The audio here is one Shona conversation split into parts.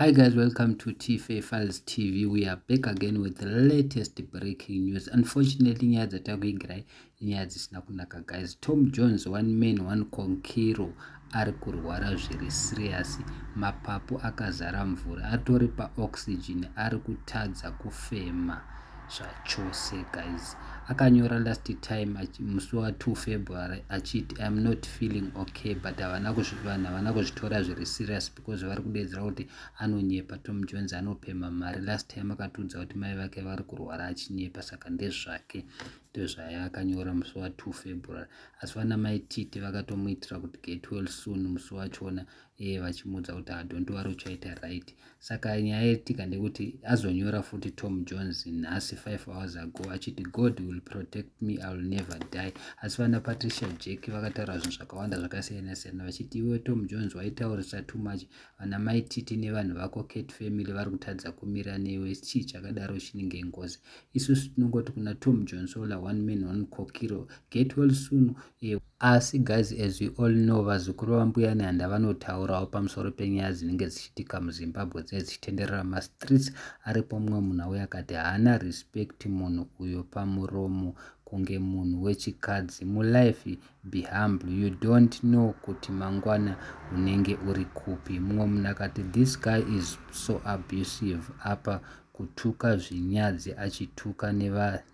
Hi guys, welcome to TFA Files TV. We are back again with the latest breaking news. Unfortunately, nyaya dzatakuigirai inyaya dzisina kunaka guys. Tom Jones, one man, one conquero, ari kurwara zviri serious. Mapapu akazara mvura, atori paoxygen, ari kutadza kufema zvachose guys. Akanyora last time musi wa 2 February achiti I'm not feeling okay but havana kuzvitora zviri serious because vari kudeedzera kuti anonyepa tom jones anopemha mari last time akatiudza kuti mai vake vari kurwara achinyepa saka ndezvake ndozvaya akanyora musi wa 2 february asi vana mai titi vakatomuitira kuti get well soon musi wachona ee vachimuudza kuti hadonti wari uchaita right saka nyaya yetika ndekuti azonyora futi tom jones nhasi 5 hours ago achiti god will protect me iwill never die asi vana patricia jack vakataura zvinhu zvakawanda zvakasiyana siyana vachiti iwe tom jones waitaurisa too much vana mai titi nevanhu vako cat family vari kutadza kumira newe chii chakadaro chinenge ngozi isusu tinongoti kuna tom jones ola one man one kokiro get well soon e asi guys as we all know vazukuru vambuya nehanda vanotaurawo pamusoro penyaya dzinenge dzichitika muzimbabwe dzinenge dzichitenderera mastreets aripo mumwe munhu auya akati haana respect munhu uyo pamuromo kunge munhu wechikadzi mulife be humble you don't know kuti mangwana unenge uri kupi mumwe munhu akati this guy is so abusive apa kutuka zvinyadzi achituka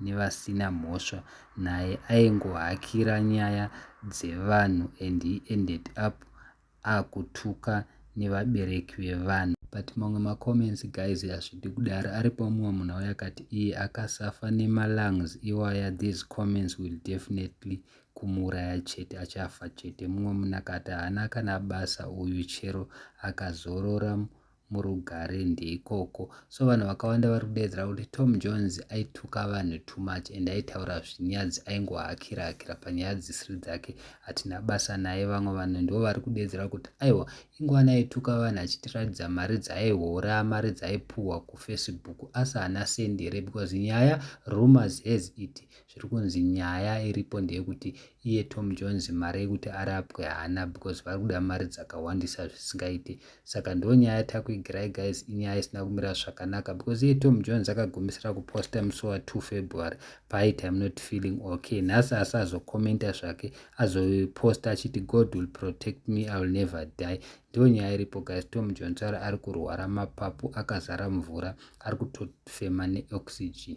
nevasina neva mhosva naye aingohakira nyaya dzevanhu and he ended up akutuka nevabereki vevanhu but mamwe macomments guys hazvidi kudaro aripo mumwe munhu auya akati iye akasafa nemalungs iwaya these comments will definitely kumuuraya chete achafa chete mumwe munhu akati haana kana basa uyu chero akazorora murugare ndeikoko so vanhu vakawanda vari kudeedzera kuti tom jones aituka vanhu too much and aitaura zvinyadzi aingohakira hakira panyaya dzisiri dzake hatina basa naye vamwe vanhu ndivo vari kudeedzera kuti aiwa ingwana aituka vanhu achitiratidza mari dzaaihora mari dzaipuhwa kufacebook asi haana sendi here because nyaya rumors has it Zviri kunzi nyaya iripo ndeyekuti iye Tom Jones mari yekuti arapwe haana because vari kuda mari dzakawandisa zvisingaite. Saka ndo nyaya yatiri kuigirai guys inyaya isina kumira zvakanaka because iye Tom Jones akagumisira kuposta musi wa 2 February paaiti I'm not feeling okay. Nhasi asazokomenta zvake azoposta achiti God will protect me I will never die. Ndiyo nyaya iripo guys Tom Jones ari ari kurwara mapapu akazara mvura ari kutofema neoxygen.